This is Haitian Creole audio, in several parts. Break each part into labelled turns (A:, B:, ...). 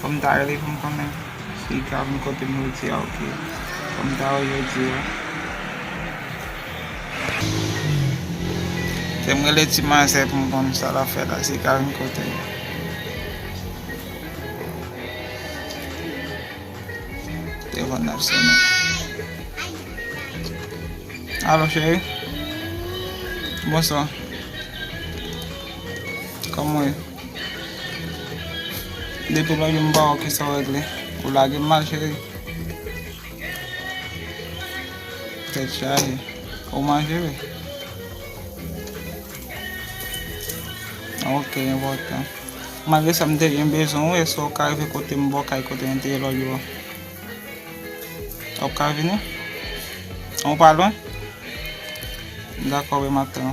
A: Fòm ta rele poum konnen si ka vin kotem rete a ok fòm ta wè jodi a. Fèm rele ti manzè poum konn sa lap fè la si ka vin kotem. Telefòn nan ap sone. Alo cheri. Bonswa. Kòman ou ye? Depi lò yon ba ou ki sa w regle, ou lage m mal cheri. Tèt chaje, ou manje wi. Ok, yon votan. Malgre sa m te yon bezon ou, eswe ou ka rive kote m bò kay kote yon te lò yo. Ou ka vini? Ou pa lwen? Dakò, we m ap tan.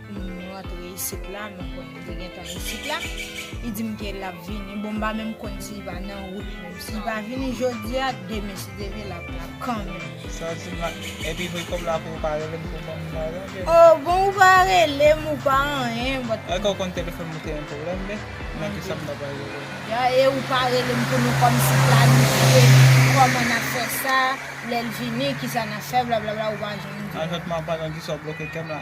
B: M rantre isit la, m konn li gentan isit la. Li di m ke l ap vini. Bon, m pa menm konn si li pa nan wout menm. Si li pa vini jodi a, demen si Dye vle l ap la kanmenm. Sa w di m la?
A: Epi vre kòb la pou ou pa rele m pou w ban m l la tonke? O,
B: bon ou pa rele m, ou pa anyen, but. Èske ou konn telefòn mwen
A: te yon pwoblèm vre? Men kisa m ta pral rele w. Ya, e ou pa rele
B: m pou nou kòmsi planifye kòman n ap fè sa, lè l vini, kisa n ap fè, blablabla, ou pa janm di m. Anjòt m aprann
A: an, kisa w bloke kè m la?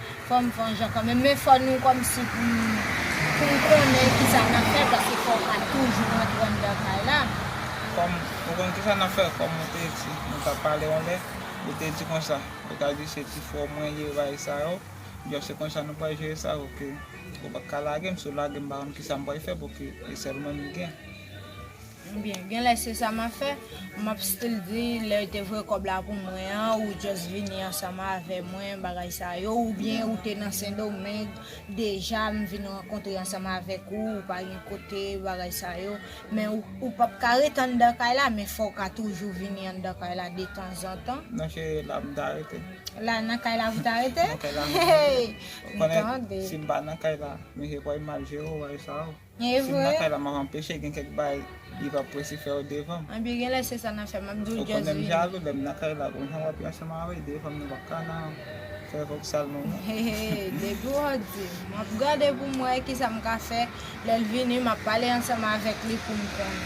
B: Fòm vanjan kanmenm men fò nou kòmsi pou poun konnen kisa nap fè paske fòw pa toujou rantre anndan kay la. Fòm
A: ou konn kisa nap fè kòm ou te di nou tap pale yon lè ou te di konsa ou ta di se ti frèw mwen ye bay sa yo byen se konsa nou pral jere sa ok ou paka lagem si ou lagem pa konn kisa mpral fè pouki e sèl mwen m gen. Ebyen
B: genlè se sa map fè, map still di lèw te voye kòb la pou mwen an ou just vini ansanm avè mwen bagay sa yo oubyen ou te nan sendomeng deja m vin rankontre ansanm avèk ou ou pa gen kote bagay sa yo men ou pap ka ret anndan kay la men fòw ka toujou vini anndan kay la detanzantan. Nan ki la m ta
A: rete? La nan kay la
B: pou ta rete? Nan kay
A: la m ta rete. Ou konnen sim pa nan kay la misye kwèm mal jere w bagay sa yo. Evre. Sim nan kay la map anpeche gen kek bay li pap prese fèw devanm. Anbyen genlè se sa nap
B: fè map diw just vini. Ou konnem jalou
A: lem nan kay la bon jan wap yon chanm anree devanm nou pap ka nan fè voksal nou non. Heheheh depiw
B: ot dim. Map gade poum wè kisam ka fè lèl vini map pale ansanm avèk li poum konn.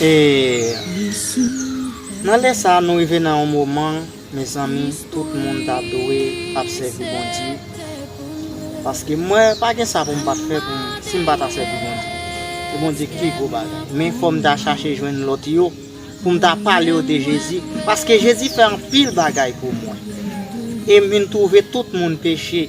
C: E nan lè sa nou rive nan yon moman mezanmi tout moun ta dwe ap sèvi Bondye paske mwen pa gen sa pou m pat fè pou m si m pa ta sèvi Bondye e Bondye ki pi gwo bagay men fò m ta chache jwenn lòt yo pou m ta pale yo de Jezi paske Jezi fè anpil bagay pou mwen e m vin twouve tout moun peche.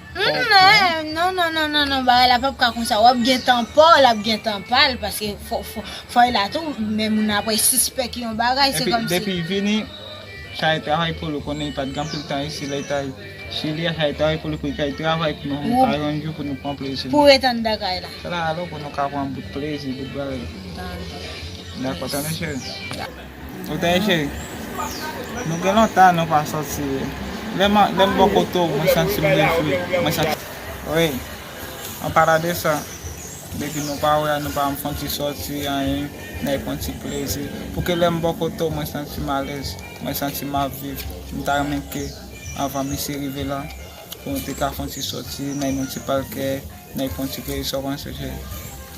A: Humm non non non non non
B: bagay la pap ka konsa wap gen tan paw lap gen tan pal paske foy la tou men moun ap sispèk yon bagay se kòmsi Epi depi vini
A: chay travay poul ou konnen li pat gen anpil tan isi lèl tay chili a chay travay poul epi kay travay pou nou ka yon jou pou nou pran plezi nou pou ret anndan kay la
B: se la alò pou nou ka
A: pran bout plezi bout bagay nou dakò tande cheri. Ou ta ye cheri? Nou gen lontan nou pa soti wi. Lè m bò kote w, mwen santi m rejwi. Wi, an palan de sa, depi nou pa wè, nou pa janm fè yon ti soti, anyen, nèk fè yon ti plezi. Pou ke lè m bò kote w, mwen santi m alèz, mwen santi m ap viv. M ta renmen ke anvan misye rive la, pou nou te ka fè yon ti soti, nan yon ti palkè. Nèg pran ti plezi sa w panse se.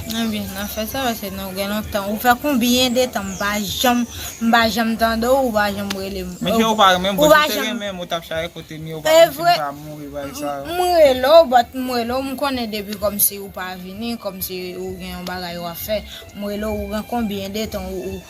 A: Mwen vin
B: nan fè sa pase nou gen lontan ou fè konbyen de tan m pa janm m pa janm tande w ou pa janm rele m. Mesye ou pa renmen m bon si
A: w te renmen m ou tap chale kote m ye ou pa konn si m pa mouri bagay sa yo. M rele w but m
B: rele w m konnen depi kòmsi ou pa vini kòmsi ou gen yon bagay wap fè m rele w ou gen konbyen de tan ou.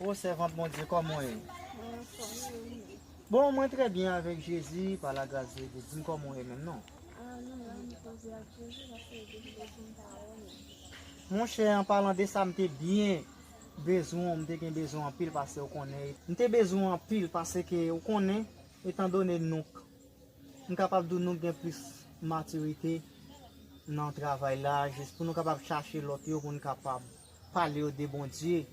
C: Oh sèvant Bondye kòman w ye? Mwen anfòm e ou menm? Bon mwen trè byen avèk Jezi pa la gras de Dye. Di m kòman w ye menm non? Ah nou menm nou koze ak Jezi paske li te kite di m pawòl ou. Mon chè an palan de sa m te byen bezwen w m te gen bezwen w anpil pase ou konnen e. M te bezwen w anpil pase ke ou konnen etan done nou k m kapab di w nou k gen plis matirite nan travay la jis pou nou kapab chache lòt yo pou n kapab Pale yo de Bondye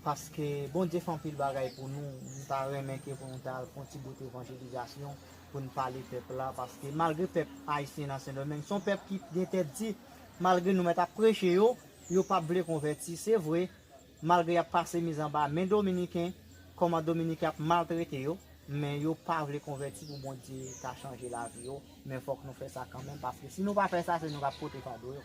C: paske Bondye fè anpil bagay pou nou m ta renmen ke pou nou ta fon ti bout evanjelizasyon pou nou pale pèp la paske malgre pèp ayisyen nan sendomeng son pèp ki gen tèt di malgre nou mèt ap preche yo yo pap vle konvèti se vre malgre yap pase mize anba men dominiken kòman dominiken ap maltrete yo men yo pa vle konvèti pou Bondye ka chanje lavi yo men fòk nou fè sa kanmenm paske si nou pa fè sa se nou kap pote fado yo.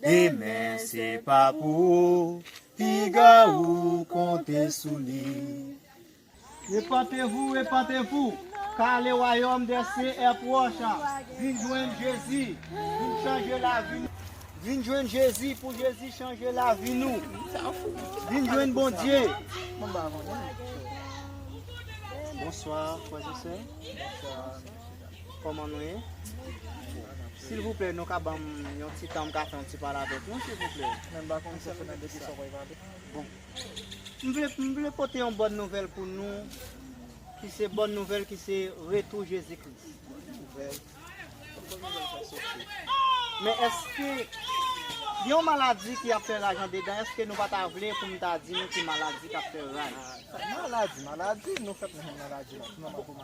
C: Demen se pa pou ou, piga ou konte sou li. Repantevou, repantevou, ka le wayòm dè sye è pwòch a, vin jwenn Jezi, vin chanje lavi nou. Vin jwenn Jezi pou Jezi chanje lavi nou. Vin jwenn Bondye. Bonswa frèzesè. Koman nou ye? Silvouplè nou ka banm yon ti tan m ka fè yon ti pale avèk nou silvouplè? Mwen pa konn sa se nan depi sa wap pale. Bon. M vle m vle pote yon bòn nouvèl pou nou ki se bòn nouvèl ki se retou Jezi Kris. Nouvèl? Kot bòn nouvèl sa soti? Men èske yon maladi ki ap fè raj andedan èske nou pa ta vle pou m ta di nou ki maladi kap fè raj? Maladi maladi nou fè konnen maladi la.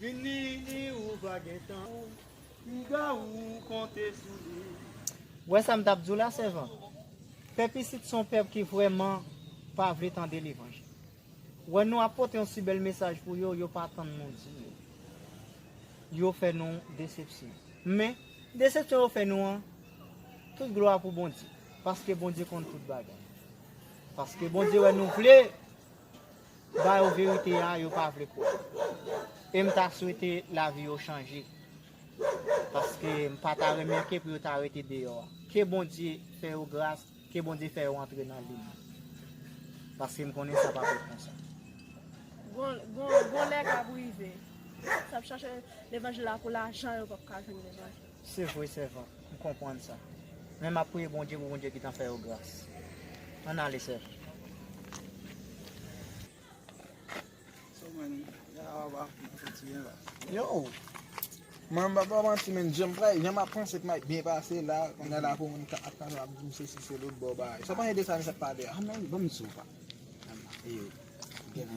C: Vini ni ou va gentan piga ou konte sou li. Wè sa m tap di w la sèvant, pèp isit son pèp ki vrèman pa vle tande levanjil. Wè nou ap pote yon si bèl mesaj pou yo, yo pa tann nou di yo. Yo fè nou desepsyon. Men, desepsyon yo fè nou an, tout glwa pou Bondye, paske Bondye konn tout bagay. Paske Bondye wè nou vle. ba yo verite ya yo pa vle kwè em ta swete lavi yo chanje paske m pa ta renmen ke pou yo ta rete deyò a ke bondye fè yo gras ke bondye fè yo antre nan lin nan paske m konnen sa pa fèt konsa. Gon
D: lè kap rive. Sa ap chache levanjil la pou lajan yo pap ka jwenn levanjil. Se vre
C: sèvant, m konprann sa. Men m ap priye Bondye pou Bondye gitan fè yo gras. Ann ale sèvant.
E: Yow! Mwen m pap ba w manti men jan m pray, jan m ap panse k m ap byen pase la, kounya la pou moun ap pale ap di m sesi se lout bon bagay. Sa w panse de sa misye ap pale a? Amen! Ban m di sa w pa.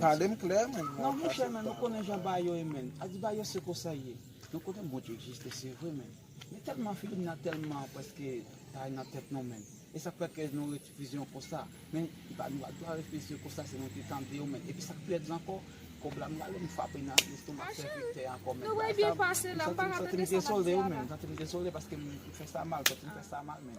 E: Pale m klè men. Non monchè men nou
F: konnen jan bagay yo ye men. Adi bagay yo se konsa y ye. Nou konnen Bondye egziste se vre men nou tèlman filim nan tèlman prèske bay nan tèt nou men e sak fè ke nou refize yo konsa men nou pa dwa refize yo konsa se nou te tande yo men epi sak pi lèd ankò kòb la m rale m frape nan lestomak sèvitè a ankò men bagay sa
B: m santi m dezole wi
F: men m santi m dezole paske m fè sa mal m santi m fè sa mal men.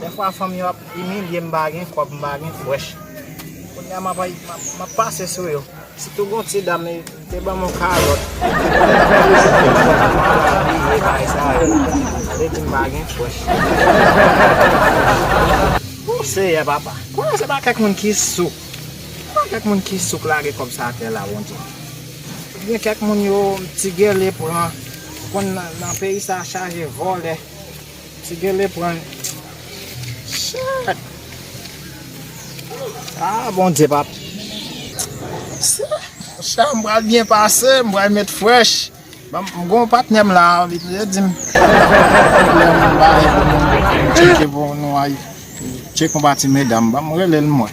A: Dèfwa fanm yo ap imilye m pa gen kòb m pa gen frèch Kounya m ap pase sou yo Sitou gon ti dam li te ban m yon kalòt Li te bay sa yo Sa vle di m pa gen frèch O seyè papa Kounya se pa kèk moun ki souk Se pa kèk moun ki souk lage kòb sa atè la Bondye Ou byen kèk moun yo ti gèle pran Ou konn nan peyi sa chaje vòlè. Ti gele pran chat ah bondye pap chat m pral byen pase m pral met fresh m gon patnè m la li toujou dim tcheke pou nou al tcheke yon pa ti medam banm relel mwen.